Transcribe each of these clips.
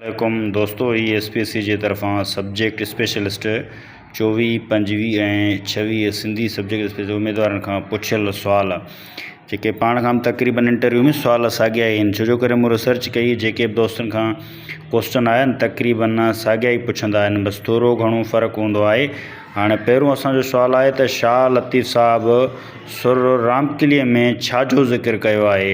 عليڪم دوستو هي ايس پي ايس سي جي طرفان سبجيڪٽ اسپيشلسٽ چوويهه پنجويهه ۽ ڇويهه سنڌي سبجيڪٽ اسپيشلسٽ اميدوارن کان پڇيل سوال جيڪي پاڻ کان تقريبن انٽرويو ۾ سوال ساڳيا ئي آهن ڇو جو ڪري مون ريسرچ ڪئي جيڪي به دوستن کان ڪوشچن آيا آهن تقريبن ساڳيا ئي پڇندا آهن بس ٿورو گهڻو فرق هوندو آهي هاڻي پهرون اسان جو سوال آهي ته شاهه لطيف صاحب سر رامڪلي ۾ ڇا جو ذڪر ڪيو آهي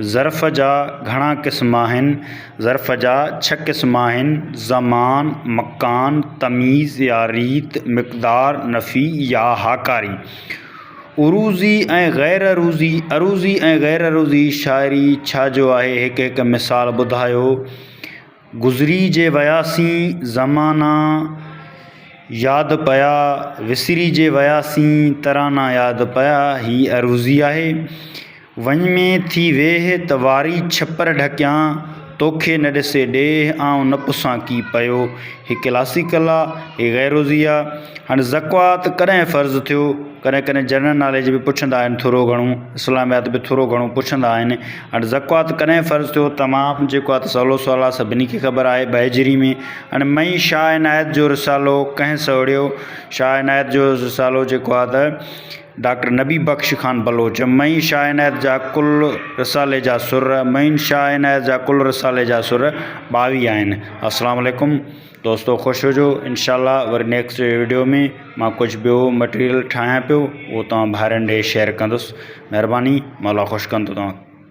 ظرف جا گهڻا قسم آهن. ظرف جا ڇهه قسم آهن، زمان، مڪان، تميز يا ريت، مقدار، نفي يا هاڪاري. عروضي ۽ غير عروضي، عروضي ۽ غير عروضي شاعري ڇا جو آهي هڪ هڪ مثال ٻڌايو. گذري جي وياسين زمانا ياد پيا وسري جي وياسين ترانا ياد پيا هي عروضي آهي وڃ ۾ ٿي ويهه ته واري ڇپر ڍڪيان توکي نه ڏسي ڏيهه آئون نه پسان ڪي پيو هي ڪلاسيڪل آ هي غيروضي آ هاڻي زڪوات ڪڏهن فرض ٿيو ڪڏهن ڪڏهن جنرل ناليج به پڇندا آهن ٿورو گهڻو اسلاميات به ٿورو گهڻو پڇندا آهن هاڻي زڪوات ڪڏهن فرض ٿيو؟ تمام جيڪو آ ته سولو سوال آ، سڀني کي خبر آهي، ٻه هجري ۾ هن مئي شاهه عنايت جو رسالو ڪنهن سهڙيو؟ شاهه عنايت جو رسالو جيڪو آ ته ڊاڪٽر نبي بخش خان بلوچ مئي شاهه عنايت جا ڪل رسالي جا سر مئين شاهه عنايت جا ڪل رسالي جا سر ٻاويهه آهن. السلام عليڪم دوستو خوش هجو انشاء الله وري نيڪسٽ ويڊيو ۾ مان ڪجهه ٻيو مٽيريل ٺاهيان پيو اهو توهان ڀائرن ڏي شيئر ڪندس مهرباني مولا خوش ڪندو توهان کي.